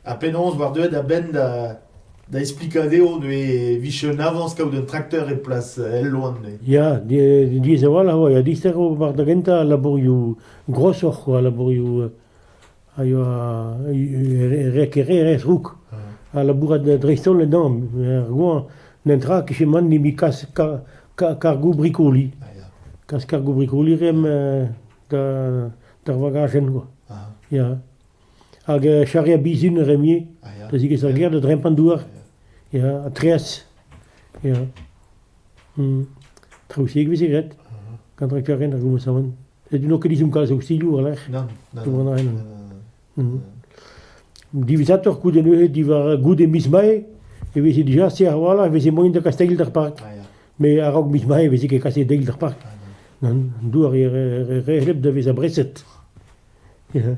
Ha penaos 'oar deuet a-benn da da esplikañ dezho e vije un avañs kaout un trakteur e plas el loen. Ya, diaes a-walc'h a oa. Ya, dister eo war da gentañ al labourioù grosoc'h, al labourioù a yoa rekererez rouk ha labourat dreist-holl en hañv. Er goañv, n'en tra kichemat nemet kas kargoù-brikoliñ. Kas kargoù-brikoliñ reomp d'ar vagajenn kwa. Ya. Hag charre a bizin reomp da zigas ar gêr da drempañ douar. Ya, ha treaz. Ya. Traoù-se e veze graet gant rakterien ar goummasaouenn. N'eo ket izom kalz a ustilhoù war-lerc'h. Nann, nann, Tout an ren. nann. Diwezhatoc'h, goude neuze, diwar goude miz Mae, e veze dija se a-walc'h, e veze moaien da kas deiz d'ar park. Ah, ya. Mais a-raok miz Mae, e veze ket kaset deiz d'ar park. Ah, non. Nan, an dour e re- re- re hleb da vezañ breset. Ya.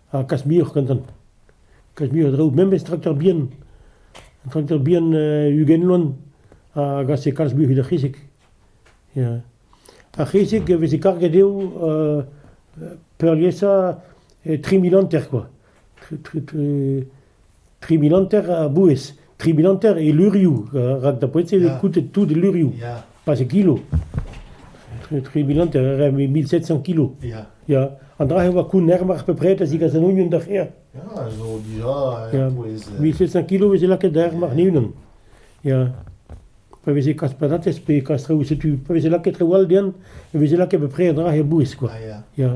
ha kas muioc'h gantan. Kas muioc'h a draoù, memes trakteur bihan. Un trakteur bihan ugent loen a gase kalz muioc'h da c'hisig. Ya. Ar c'hisig e veze karget eo uh, peurliesañ tri mil hanter, quoi. tri mil hanter a bouez, tri mil hanter e lurioù, rak da poent-se eo koutet tout e lurioù, Ya, pas e kilo. Tri mil hanter, mil sept cent kilo. ya. Ya. An dra-se oa kounner mar pepred a zigas an union da c'her. Ya, zo dija Ja. a-pouez. euh, Mil sept cent kilo veze lakaet da mar ne-unan. Ya. Pa veze kas patatez pe kas reoù, setu, pa veze lakaet reoù all dean, e veze lakaet bepred an dra-se a bouez, quoi. Ah, ya. Ya.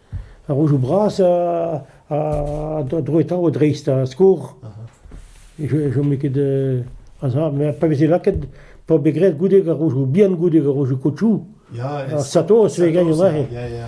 Ar rojoù bras a droetao dreist ar skor. Ne chome ket a-sav. Met pa veze lakaet, pa vez graet goude ar rojoù bihan, goude ar rojoù kotchoù, ar satos e gagne neuze. Ya, ya.